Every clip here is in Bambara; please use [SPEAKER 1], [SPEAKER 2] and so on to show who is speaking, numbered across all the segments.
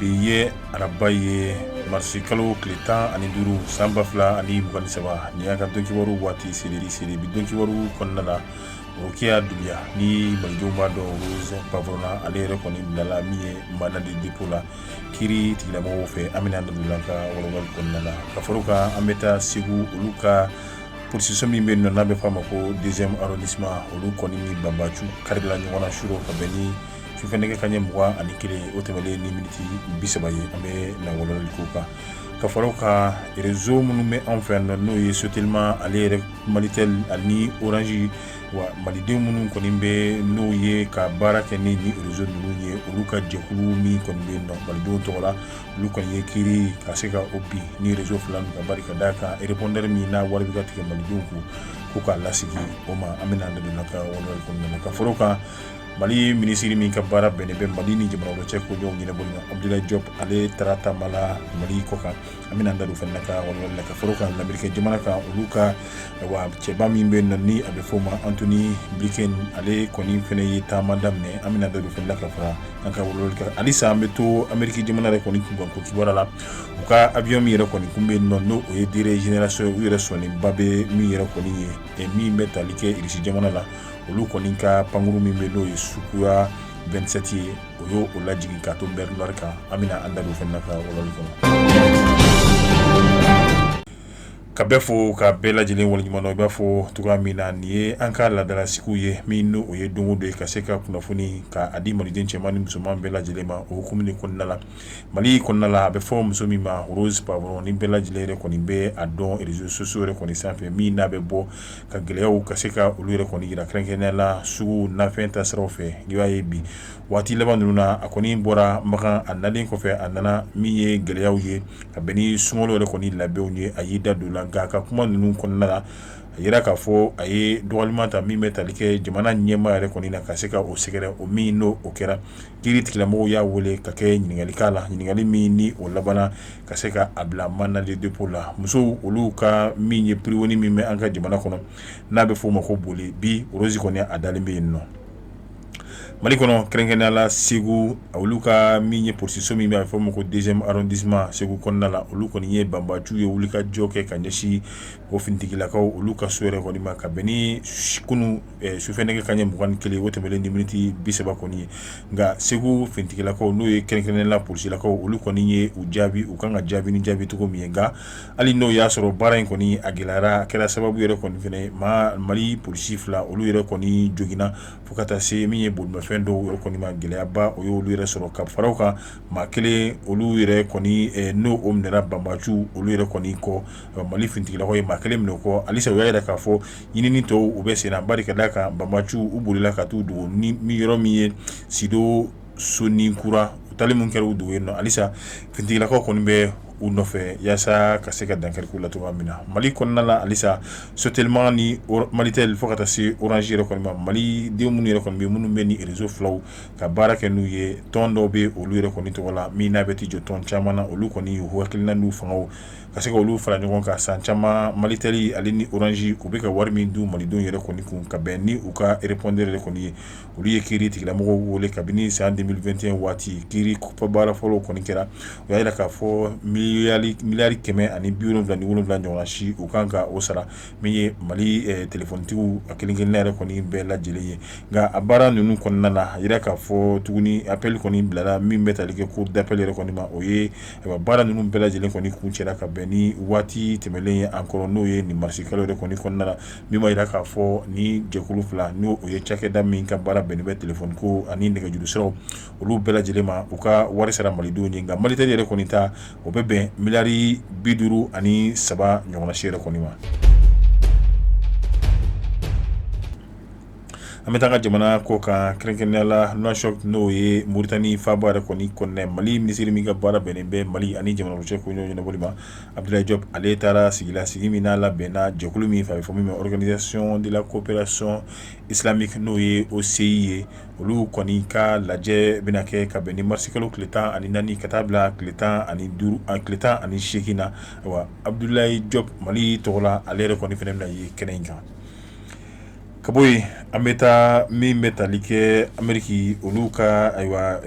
[SPEAKER 1] bi ye araba ye marisi kalo tile tan ani duuru san ba fila ani mugan ni saba ni y'a ka don kibaru waati selen ye bi don kibaru kɔnɔna na Rokiya Dunbiya ni malidenw b'a dɔn Rose Poivron na ale yɛrɛ kɔni bilala min ye mandat de dépôt la kiiri tigilamɔgɔw fɛ an bɛna da don o la an ka walawalali kɔnɔna la ka fara o kan an bɛ taa segu olu ka polisiso min bɛ yen nɔ n'a bɛ f'a ma ko deuxième arrondissement olu kɔni ni banbaanciw karila ɲɔgɔn na surɔ ka bɛn ni sufɛ nɛgɛ kanɲɛ mugan ani kelen o tɛmɛlen ni miniti bi saba ye an bɛna walawalali k'o kan ka fara o kan rezo minnu bɛ anw fɛ yan nɔ n'o ye sotelima ale yɛrɛ malitɛli ani oranzi wa maliden minnu kɔni bɛ n'o ye ka baara kɛ ni ni rezo ninnu ye olu ka jɛkulu min kɔni bɛ yen nɔ malidenw tɔgɔ la olu kɔni ye kiiri ka se ka o bin rezo fila ninnu kan bari ka d'a kan repɔndɛri min n'a wari bɛ ka tigɛ malidenw kun ko k'a lasigi o ma an bɛna an da don ka walawalali kɔnɔna na ka fara o kan mali minisiri min ka baara bɛnnen bɛ mali ni jamana wɛrɛ cɛ koɲɔgɔn ɲɛnabɔli ma abdulayi jɔp ale taara taama la mali kɔ kan an bɛna an da don fana na ka walawalali la ka fara o kan lamerikɛn jamana kan olu ka wa cɛba min bɛ yen nɔ ni a bɛ fɔ o ma antoni blinken ale kɔni fana ye taama daminɛ an bɛna da don fana la ka fara an ka walawalali kan halisa an bɛ to ameriki jamana yɛrɛ kɔni kunkan ko kibaruya la u ka avion min yɛrɛ kɔni kun bɛ yen nɔ n'o ye dernière génération ye u yɛrɛ sɔnnenba bɛ min yɛrɛ kɔni ye min bɛ tali kɛ irisi jamana la olu kɔni ka pankurun min bɛ n'o ye Sukhoi vingt-sept ye o y'o lajigin ka to mer Noire kan an bɛna an da fana ka walawalali kɔnɔ ka bɛɛ fo ka bɛɛ lajɛlen waleɲuman dɔn i b'a fɔ cogoya min na nin ye an ka laadala sigi ye min n'o ye don o don ye ka se ka kunnafoni ka di maliden cɛman ni musoman bɛɛ lajɛlen ma o hukumu kɔnɔna la mali kɔnɔna la a bɛ fɔ muso min ma Rose Poivron ni bɛɛ lajɛlen yɛrɛ kɔni bɛ a dɔn réseaux sociaux yɛrɛ kɔni sanfɛ min n'a bɛ bɔ ka gɛlɛyaw ka se ka olu yɛrɛ kɔni yira kɛrɛnkɛrɛnnenya la sugu nafɛn ta siraw fɛ i b'a ye bi waati laban ninnu na a kɔni bɔra Makan a nalen kɔfɛ a nana min ye gɛlɛyaw ye ka bɛn ni sunkalo yɛrɛ kɔni labɛnw ye a y'i da don o la nka a ka kuma ninnu kɔnɔna la a yira k'a fɔ a ye dɔgɔyalima ta min bɛ tali kɛ jamana ɲɛmaa yɛrɛ kɔni na ka se ka o sɛgɛrɛ o min n'o kɛra kiiri tigilamɔgɔw y'a wele ka kɛ ɲininkali k'a la ɲininkali min ni o labanna ka se ka a bila mandat de dépôt la musow olu ka min ye prison min bɛ an ka jamana kɔnɔ n'a bɛ f'o ma ko Bole bi Rose kɔni a dalen bɛ yen nɔ mali kɔnɔ kɛrɛnkɛrɛnnenya la segu olu ka min ye polisiso min bɛ a bɛ f'a ma ko deuxième arrondissement segu kɔnɔna la olu kɔni ye banbaanciw ye wuli ka jɔ kɛ ka ɲɛsin o finitigilakaw olu ka so yɛrɛ kɔni ma ka bɛn ni kunun sufɛ nɛgɛ kanɲɛ mugan ni kelen o tɛmɛlen ni miniti bi saba kɔni ye nka segu finitigilakaw n'o ye kɛrɛnkɛrɛnnenya la polisilakaw olu kɔni ye u jaabi u kan ka jaabi ni jaabi cogo min ye nka hali n'o y'a sɔrɔ baara in kɔni a gɛlɛyara a kɛra sababu yɛrɛ kɔni fana mali polisi fila olu yɛrɛ kɔni joginna fo ka taa se min ye bolimafɛn dɔw yɛrɛ kɔni ma gɛlɛyaba o y'olu yɛrɛ sɔrɔ ka fara o kan maa kelen olu yɛrɛ kɔni n'o o minɛra banbaanci olu yɛrɛ kɔni kɔ mali finitigilakaw ye maa kelen minɛ o kɔ halisa u y'a jira k'a fɔ ɲinini tɔw bɛ senna bari ka d'a kan banbaanciw bolila ka taa u dogo ni yɔrɔ min ye sido soninkura u taali min kɛra u dogo yen na halisa finitigilakaw kɔni bɛ u nɔfɛ yaasa ka se ka dankari k'u la cogoya min na mali kɔnɔna la halisa sotɛlima ni malitɛli fo ka taa se oransi yɛrɛ kɔni ma malidenw minnu yɛrɛ kɔni minnu bɛ ni rezo filaw ka baara kɛ n'u ye tɔn dɔw bɛ olu yɛrɛ kɔni tɔgɔ la min n'a bɛ t'i jɔ tɔn caman na olu kɔni y'u hakilina n'u fanga ka se ka olu fara ɲɔgɔn kan san caman malitɛli ale ni oransi u bɛ ka wari min dun malidenw yɛrɛ kɔni kun ka bɛn ni u ka repɔndɛri yɛrɛ kɔni ye olu ye kiiritigɛlamɔgɔw wele kabini san deux mille vingt et un waati kiiri baara fɔlɔw kɔni kɛra u y'a jira k'a fɔ miliyari kɛmɛ ani bi wolonwula ani wolonwula ɲɔgɔnna si u kan ka o sara min ye mali telefɔnitigiw a kelen-kelenna yɛrɛ kɔni bɛɛ lajɛlen ye nka a baara ninnu kɔnɔna na a jira k'a fɔ tuguni appel kɔni bilara min bɛ tali kɛ cour d'appel yɛrɛ kɔni ma o ye a baara ninnu bɛɛ lajɛlen kɔni kuncɛra ka bɛn ni waati tɛmɛlen ye encore n'o ye nin marisi kalo yɛrɛ kɔni kɔnɔna la min b'a jira k'a fɔ ni jɛkulu fila n'o ye cakɛda min ka baara bɛnnen bɛ telefɔni ko ani nɛgɛjuru sira olu bɛɛ lajɛlen ma u ka wari sara malidenw ye nka malitɛli yɛrɛ kɔni ta o bɛ bɛn miliyari bi duuru ani saba ɲɔgɔnna si yɛrɛ kɔni ma an bɛ taa ka jamana kɔkan kɛrɛnkɛrɛnnenya la nuwakisɔti n'o ye moritani faba yɛrɛ kɔni kɔnɔna mali minisiri min ka baara bɛnnen bɛ mali ani jamana wɛrɛ cɛ ko ɲɔgɔn ɲɛnabɔli ma abudulayi jɔpu ale taara sigi la sigi min n'a labɛnna jɛkulu min fɛ a bɛ fɔ min ma organisation de la coopération islamique n'o ye OCI ye olu kɔni ka lajɛ bɛna kɛ ka bɛn ni marisi kalo tile tan ani naani ka taa bila tile tan ani seegin na wa abudulayi jɔpu mali tɔgɔ la ale yɛrɛ kɔni fana bɛna ye kɛnɛ in kan ka bɔ yen an bɛ taa min bɛ tali kɛ ameriki olu ka ayiwa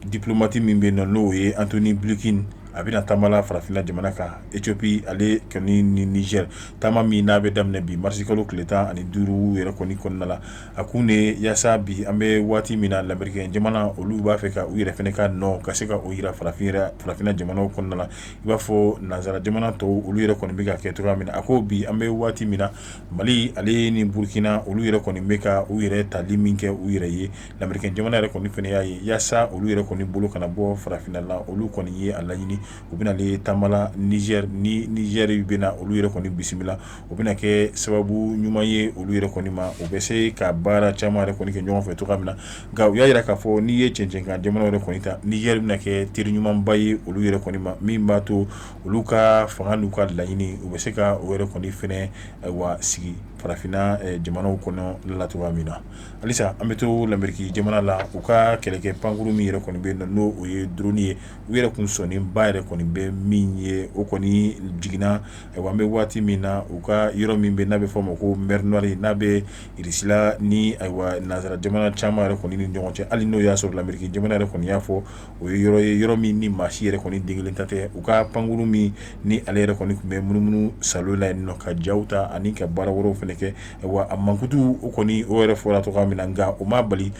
[SPEAKER 1] diplomati min bɛ na n'o ye antoni blinkɛn a bɛna taamala farafinna jamana kan etiyopi ale kɔni ni nizɛri taama min n'a bɛ daminɛ bi marisi kalo tile tan ani duuru yɛrɛ kɔni kɔnɔna la a kun de yaasa bi an bɛ waati min na lamerikɛn jamana olu b'a fɛ ka u yɛrɛ fana ka nɔ ka se ka o jira farafinna jamana kɔnɔna la i b'a fɔ nansara jamana tɔw olu yɛrɛ kɔni bɛ ka kɛ cogoya min na a ko bi an bɛ waati min na Mali ale ni burukina olu yɛrɛ kɔni bɛ ka u yɛrɛ tali min kɛ u yɛrɛ ye lamerikɛn jamana yɛrɛ kɔni fɛnɛ y'a ye yaasa olu yɛrɛ kɔni bolo kana bɔ farafinna la olu kɔni ye a laɲini u bɛna ye taama la nizɛri ni nizɛri bɛna olu yɛrɛ kɔni bisimila u bɛna kɛ sababu ɲuman ye olu yɛrɛ kɔni ma u bɛ se ka baara caman yɛrɛ kɔni kɛ ɲɔgɔn fɛ cogoya min na nka u y'a yira k'a fɔ n'i ye cɛncɛnkan jamana yɛrɛ kɔni ta nizɛri bɛna kɛ teri ɲumanba ye olu yɛrɛ kɔni ma min b'a to olu ka fanga n'u ka laɲini u bɛ se ka o yɛrɛ kɔni fɛnɛ wa sigi farafinna jamanaw kɔnɔ la cogoya min na halisa an bɛ to lameriki jamana la u ka kɛlɛkɛ pankuru min yɛrɛ kɔni bɛ yen n'o o ye drone ye u yɛrɛ kun sɔnnenba yɛrɛ kɔni bɛ min ye o kɔni jiginna an bɛ waati min na u ka yɔrɔ min bɛ n'a bɛ fɔ ma ko mer Noire n'a bɛ irisi la ni nansara jamana caman yɛrɛ kɔni ni ɲɔgɔn cɛ hali n'o y'a sɔrɔ lameriki jamana yɛrɛ kɔni y'a fɔ o ye yɔrɔ ye yɔrɔ min ni maa si yɛrɛ kɔni den kelen ta tɛ u ka pankuru min ni ale yɛrɛ kɔni tun bɛ munumunu salo la yen nɔ ka ja ta ani ka baara wɛrɛw fɛnɛ kɛ wa a mankutu o kɔni o yɛrɛ fɔra cogoya min na nka o ma bali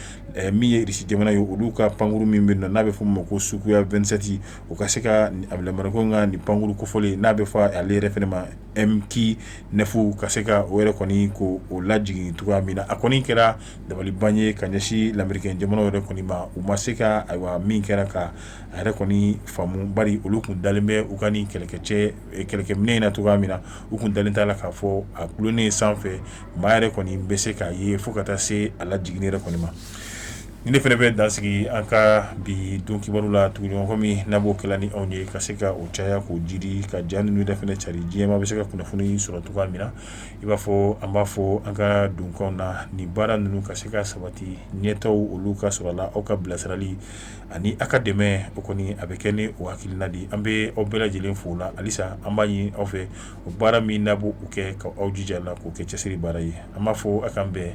[SPEAKER 1] min ye irisi jamana ye olu ka pankuru min bɛ yen n'a bɛ fɔ ma ko Sukhoi 27 u ka se ka amerikɛn ka nin pankuru kofɔlen n'a bɛ fɔ ale yɛrɛ fɛnɛ ma MQ9 ka se ka o yɛrɛ kɔni ko o lajigin cogoya min na a kɔni kɛra dabaliban ye ka ɲɛsin lamerike jamana yɛrɛ kɔni ma u ma se ka ayiwa min kɛra ka a yɛrɛ kɔni faamu bari olu tun dalen bɛ u ka nin kɛlɛkɛcɛ kɛlɛkɛminɛ in na cogoya min na u tun dalen t'a la k'a fɔ a dulonnen sanfɛ maa yɛrɛ kɔni bɛ se k'a ye fo ka taa se a lajigin yɛrɛ kɔni ma ni ne fɛnɛ bɛ dan sigi an ka bi don kibaru la tuguɲɔgɔn komi n'a b'o kɛ la ni anw ye ka se ka o caya k'o jiri ka ja ninnu yɛrɛ fɛnɛ cari diɲɛ maa bɛ se ka kunnafoni sɔrɔ cogoya min na i b'a fɔ an b'a fɔ an ka donkanw na nin baara ninnu ka se ka sabati ɲɛtaa olu ka sɔrɔ la aw ka bilasirali ani aw ka dɛmɛ o kɔni a bɛ kɛ ni o hakilina di an bɛ aw bɛɛ lajɛlen fo la halisa an b'a ɲini aw fɛ o baara min n'a b'o kɛ ka aw jija la k'o kɛ cɛsiri baara ye an b'a fɔ aw k'an bɛn